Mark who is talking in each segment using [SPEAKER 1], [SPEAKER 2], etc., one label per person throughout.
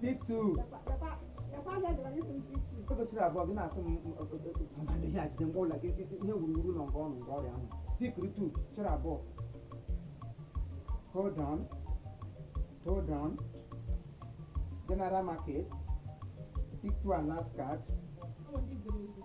[SPEAKER 1] Pick two. Oge chiri abụọ gị na-asị m mmadụ ihe ajide mgbe ụlọ gị ihe wuruwuru nọ nke ọnụ nke ọrịa ahụ. Pick two chiri abụọ. Hold on. Hold on. General market. Pick two and last card.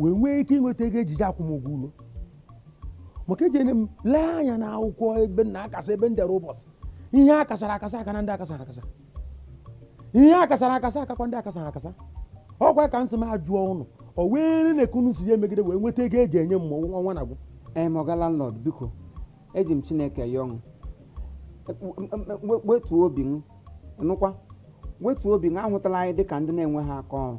[SPEAKER 2] wee nwee ike ịnweta ego eji eje akwụ m ụgwọ ụlọ maka eji enye m lee anya na akwụkwọ ebe m na-akasa ebe m dere ụbọchị ihe a kasara akasa aka na ndị akasara akasa ihe a kasara akasa akakwa ndị akasara akasa ọkwa ka m sị m jụọ unu o wee na ka unu si ya emegide wee nweta ego eji enye m ma ọnwa na-agwụ ee ma ọga
[SPEAKER 1] landlord biko eji m chineke yọọ unu wetuo obi ịnụkwa wetuo obi m ahụtala anyị dịka ndị na-enweghị aka ọrụ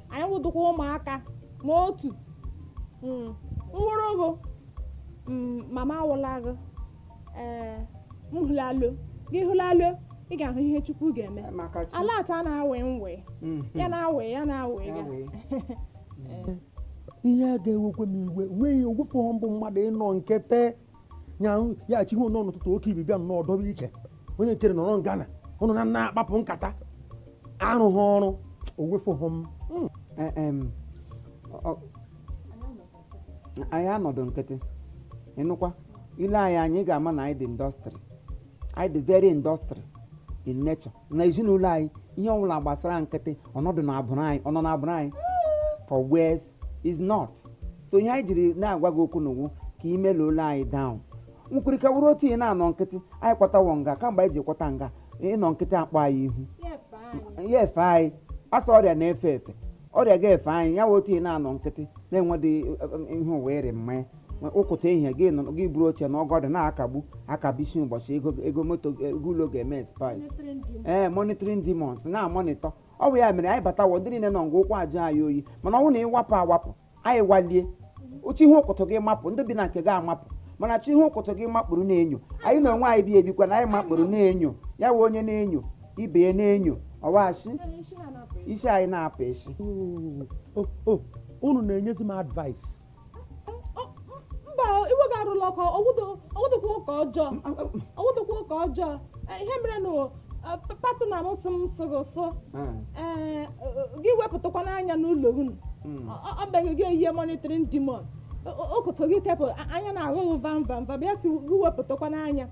[SPEAKER 3] anyị wụdụkwa ụmụaka ma otu mm, nwụrụ bụ mm, mama awụla gị ee m hụlalo gị hụlalo ị ga-ahụ ihe chukwu ga-eme maka chi ala ata na-awe nwe Mhm. ya na-awe ya na-awe Ya ya
[SPEAKER 2] wee. ihe a ga-ewekwe m iwe nweghị owefu m bụ mmadụ ịnọ nkịtị ya ya chihu nọ n'ụtụtụ oke ibi bịa nnọọ dobe ike onye nkere nọrọ ngana unu na na-akpapụ nkata arụghị ọrụ owefughị m hmm. e,
[SPEAKER 1] anyị anọdụ nkịtị ịnụkwa ile anyị anya ị ga-ama na anyị dị industry anyị dị very industry in nature na ezinụlọ anyị ihe ọbụla gbasara nkịtị ọnọdụ na abụrụ anyị ọnọ na abụrụ anyị for where is not so ihe anyị jiri na-agwa gị okwu n'ugwu ka ị melụla anyị down nkwurịka wụrụ otu ihe na-anọ nkịtị anyị kwatawo nga kamgbe anyị ji kwata nga ịnọ nkịtị akpọ anyị ihu ya efe anyị as ọrịa na-efe efe ọrịa ga-efe anyị ya wụ otu ihe na-anọ nkịtị na-enwedị ihe ụwa ịrị mmanya ụkụtụ ehihie gị nọ gị buru oche nọgodu na-akagbu akabisi ụbọchị ego ego moto ego ụlọ ga-eme spies ee monitoring demons na-amonitọ Ọ bụ ya mere anyị batawa ndị niile nọ nga ụkwụ aja anyị oyi mana ọ bụrụ na ịwapụ awapụ anyị walie chi ihe ụkụtụ gị mapụ ndị bi na nke gị amapụ mana chi ihe ụkụtụ gị makpụrụ na-enyo anyị na onwe anyị bi ebikwa na anyị makpụrụ na-enyo ya wụ onye na-enyo ibe ya na-enyo ọwachi isi anyị na-apụ isi unu
[SPEAKER 2] na-enyezi m advice
[SPEAKER 3] mba iwe gị arụla ọkụ ọwụdụkwa ụka ọjọọ ọwụdụkwa ụka ọjọọ e, ihe mere na e, partner m sị m sị gị sụ hmm. e, gị wepụtakwanụ anya n'ụlọ unu hmm. ọ beghị gị eyihe monitoring demon okoto gị tepụ anya na-aghụghụ vam vam vam ya si gị wepụtakwanụ anya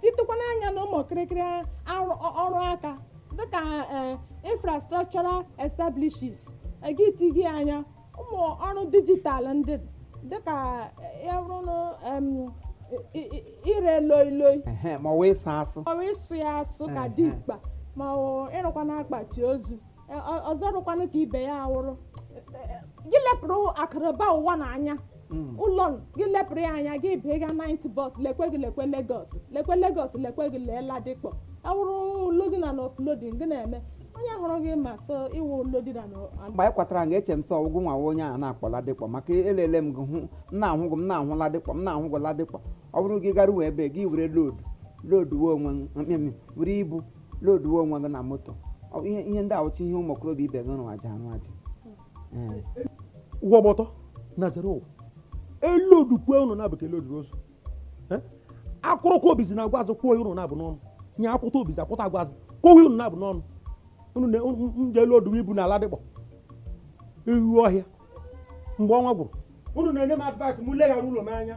[SPEAKER 3] titụkwanụ anya na ụmụ kịrịkịrị ọrụ aka dịka infrastructural establishes gị ti gị anya ụmụ ọrụ dijitalụ ndị dịka ya bụrụ na em, i- i- i- ire loi loi Ehe, ma ọ wụ ịsụ
[SPEAKER 1] asụ maọbụ ịsụ ya
[SPEAKER 3] asụ ka Ehe. dimkpa maọbụ ịrụkwa n'akpati ozu Ọ- ọ- ọzọ rụkwanụ ka ibe ya awụrụ gị lepụrụ akụrụba ụwa n'anya hmm. ụlọ gị lepụrụ ya anya gị bịa ga night bus lekwe gị lekwe Lagos lekwe Lagos lekwe gị lee Ladipo ọ wụrụ loading na offloading gị na-eme onye hụrụ gị ma sị ị wụ loader mgbe anyị kwatara nga eche
[SPEAKER 1] m sị ọ wụ gị nwa wụ onye a na-akpọ Ladipo maka elele m gị hụ m na-ahụ gị m na-ahụ Ladipo m na-ahụ gị Ladipo ọ bụrụ gị garuwe ebe gị were load loduwe onwe gị were ibu loduwe onwe gị na moto ihe ndị awụcha ihe ụmụ okorobịa ibe gị rụrụ aja arụ aja
[SPEAKER 2] ụwa gbọtọ na zere ụwa elodukwe ụnụ na-abụ ka e loduru ozu akwụrụkwa obizi na agwa azụ kwuo ụnụ na-abụ n'ọnụ nye akwụta obizi akwụta agwa azụ kwuo ụnụ na-abụ n'ọnụ ụnụ na ndị elodu ibu na Ladipo ewu ọhịa mgbe ọnwa gwụrụ ụnụ na-enye m advice m leghara ụlọ m anya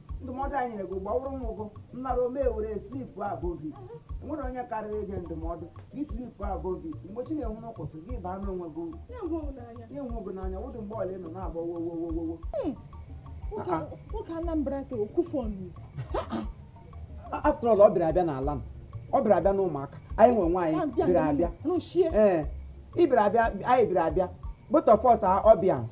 [SPEAKER 1] ndụmọdụ anyị nyere gị gbawụrụ m ụgụ nnara ome were sleep above it enwere onye karịrị ịge ndụmọdụ gị sleep above it mgbe chi na-enwu n'ụtụtụ gị baa n'onwe gị uru na-enwe m n'anya na-enwe gị n'anya wụdị mgbe ọla ị nọ na-agba wowowowowo nwoke
[SPEAKER 3] a- nwoke Anambra ka okwufu
[SPEAKER 1] ọnụ after all ọ bịara abịa n'ala m ọ bịara abịa n'ụmụaka anyị nwe nwaanyị Abịa bịara abịa rụchie ee ị bịara abịa anyị bịara abịa both of us are audience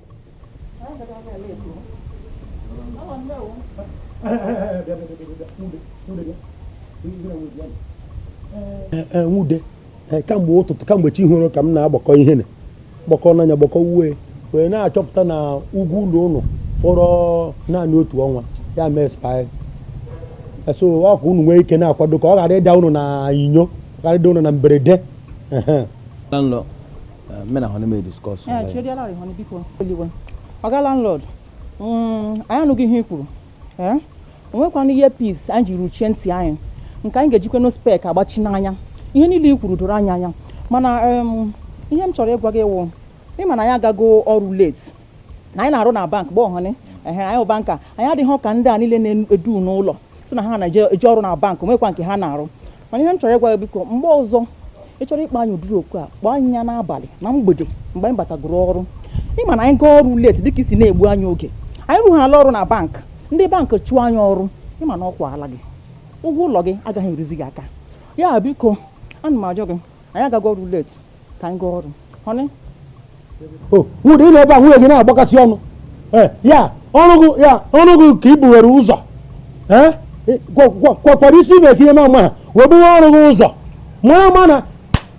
[SPEAKER 2] nwude kamgbe ụtụtụ kamgbe chi horo ka m na-agbakọ ihe na gbakọ n'anya gbakọ uwe wee na-achọpụta na ụgwọ ụlọ ụnụ fọrọ naanị otu ọnwa ya mee expire so ọ ka unu nwee ike na-akwado ka ọ ghara ịda unu na inyo ghara ịda unu na mberede mme na hụ n'ime
[SPEAKER 4] diskọs ee chedi ala rịhọ biko eluigwe ọga landlord mm, anyị anụgo ihe i kwuru ee o nwekwanụ earpiece anyị ji ruchie ntị anyị nke anyị ga-ejikwanụ spek agbachi n'anya ihe niile i kwuru doro anyị anya mana em, ihe m chọrọ ịgwa gị wụ ị ma na anyị agago ọrụ late na anyị na-arụ na bank bụ ọhụnị ehe anyị bụ banker anyị adịghị ka ndị a niile na-edu n'ụlọ sị na ha na-eje eje ọrụ na bank o nwekwa nke ha na-arụ mana ihe m chọrọ ịgwa gị biko mgbe ọzọ ị chọrọ ịkpọ anyị ụdịrị oku a kpọọ anyị ya n'abalị na mgbede mgbe anyị batagoro ọrụ ị ma na anyị gaa ọrụ late dịka i si na-egbu anyị oge anyị rụghala ọrụ na bank ndị bank chụọ anyị ọrụ ị ma na ọ kwaala gị ụgwọ ụlọ gị agaghị eruzi gị aka ya biko ana m ajọ gị anyị agago ọrụ late ka anyị gaa ọrụ honey
[SPEAKER 2] o nwere ịnọ ebe a nwunye gị na-agbakasị ọnụ Eh, ya ọrụ gị ya ọrụ gị ka i buwere ụzọ Eh, ị- kwa- kwa- kwa- kwado isi ime ka ihe ma ama ha wee buru ọrụ gị ụzọ mara ma na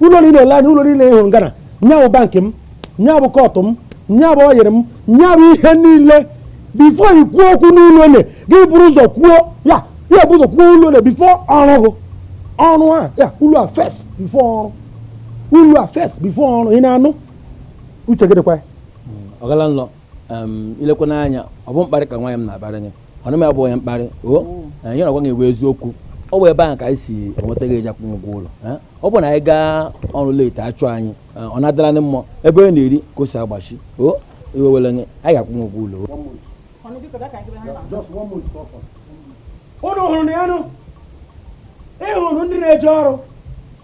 [SPEAKER 2] ụlọ niile ele anya ụlọ niile ị hụrụ ngana nya bụ bankị m nya bụ kọtụ m nya bụ ọyịrị m nya bụ ihe niile before i kwuo okwu n'ụlọ ole gị buru ụzọ kwuo ya ya buru ụzọ kwuo ụlọ ole before ọrụ gị ọrụ a ya ụlọ a first before ọrụ ụlọ a first before ọrụ ị na-anụ uche gị dịkwa ya oga
[SPEAKER 5] landlord em, elekwana anya ọ bụ mkparị ka nwaanyị m na-akparị gị ọ naghị abụ onye mkparị o eh, ihe ọ na-agwa gị wụ eziokwu ọ bụ ebe ahụ ka anyị si enweta ego eji akwụ ụgwọ ụlọ eh. ọ bụ na anyị gaa ọrụ late a chụọ anyị eh, ọ na-adịla ndị mmụọ ebe onye na-eri ka o si agbachi o iwe ewela gị anyị ga-akwụ gị ụgwọ ụlọ
[SPEAKER 2] o. unu hụrụ na ya nụ ị hụrụ ndị na-eje ọrụ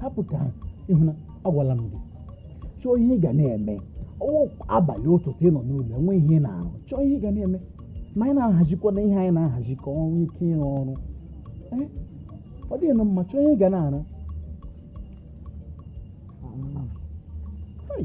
[SPEAKER 6] hapụ ka ị hụ na agwala m gị chọọ ihe ị ga na-eme ọ wụ abalị ụtụtụ ị nọ n'ụlọ enwe ihe ị na-arụ chọọ ihe ị ga na-eme ma anyị na-ahazikwa na ihe anyị na-ahazi ka o nwee ike ịrụ ọrụ ee ọ dịghị na mma chọọ ihe ị ga na-arụ Hai.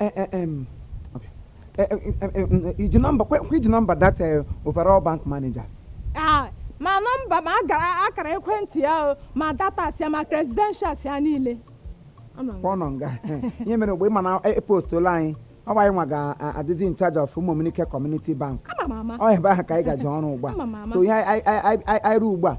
[SPEAKER 1] Eh, eh, em, okay. Eh, eh, em, em, em, i ji nọmba kwe kwe i ji nọmba that eh, overall bank managers Ah, ma
[SPEAKER 3] nọmba ma agara akara ekwentị ya o ma datas ya ma credentials ya niile Anọ m. ọ
[SPEAKER 1] nọ nga ihe mere mgbe ị ma na e postola anyị ọ bụ anyị nwa ga-adịzi in charge of ụmụmnike community bank Ama m ama ọ ebe ahụ ka anyị gaje ọrụ ugbu a Ama m ama. so ihe anyị- anyị anyị- anyị- anyị ruo ugbu a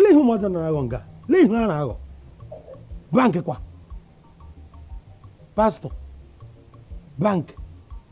[SPEAKER 2] lee ihe ụmụazị na-akọ nga lee ihe ha na-akọ bank kwa pastọ bank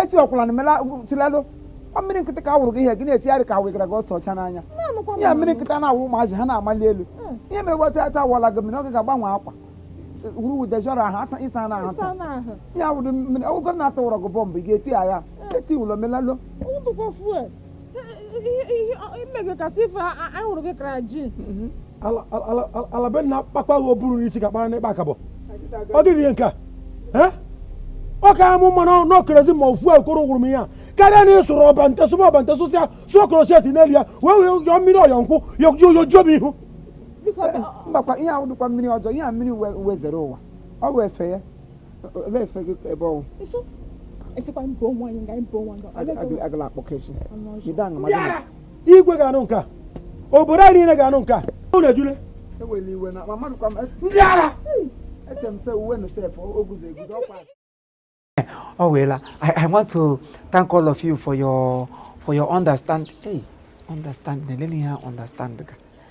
[SPEAKER 2] echi
[SPEAKER 1] ọkwụla na mela tilelo ọ mmiri nkịtị ka a wụrụ gị ihe gị na-etigharị ka a wụgara gị ose ọcha n'anya ya mmiri nkịtị a na-awụ ụmụazị ha na-amali elu hmm. ihe mere weta ata a wụọla gị mmiri oge ga-agbanwe akwa wuru wudejọrọ ahụ asa ị sana ahụ taa ya wụrụ mmiri ọgwụgọ na a tụọrọ gị bọmbụ ị ga-eti aghaa hmm. eti ụlọ melalo
[SPEAKER 3] imegakasị ife anyị hụrụ gị kara ji
[SPEAKER 2] mhm. alabe na kpakpa gị oburu n'isi ka kpara n'ịkpa akabọ ọ dịrị ihe nke a ọ ka amụ mmanụ n'okerezi ma ofu ekworo gwụrụ m ihe a karịa na ịsụrụ ọba nte sụba ọba nte sụsịa sụọ kroseti n'elu ya wee wee yọọ mmiri ọyọ nkwụ yọjuo m ihu
[SPEAKER 1] mgbakwa ihe ahụ dịkwa mmiri ọjọọ ihe a mmiri wezere ụwa ọ wee fee ya igwe
[SPEAKER 2] ga-anụ nke a obodo anyị niile ga-anụ nke a unu ejule
[SPEAKER 1] ndị ara oh well i want to thank all of you for your for your understanding hey understanding na-elele ihe understand ka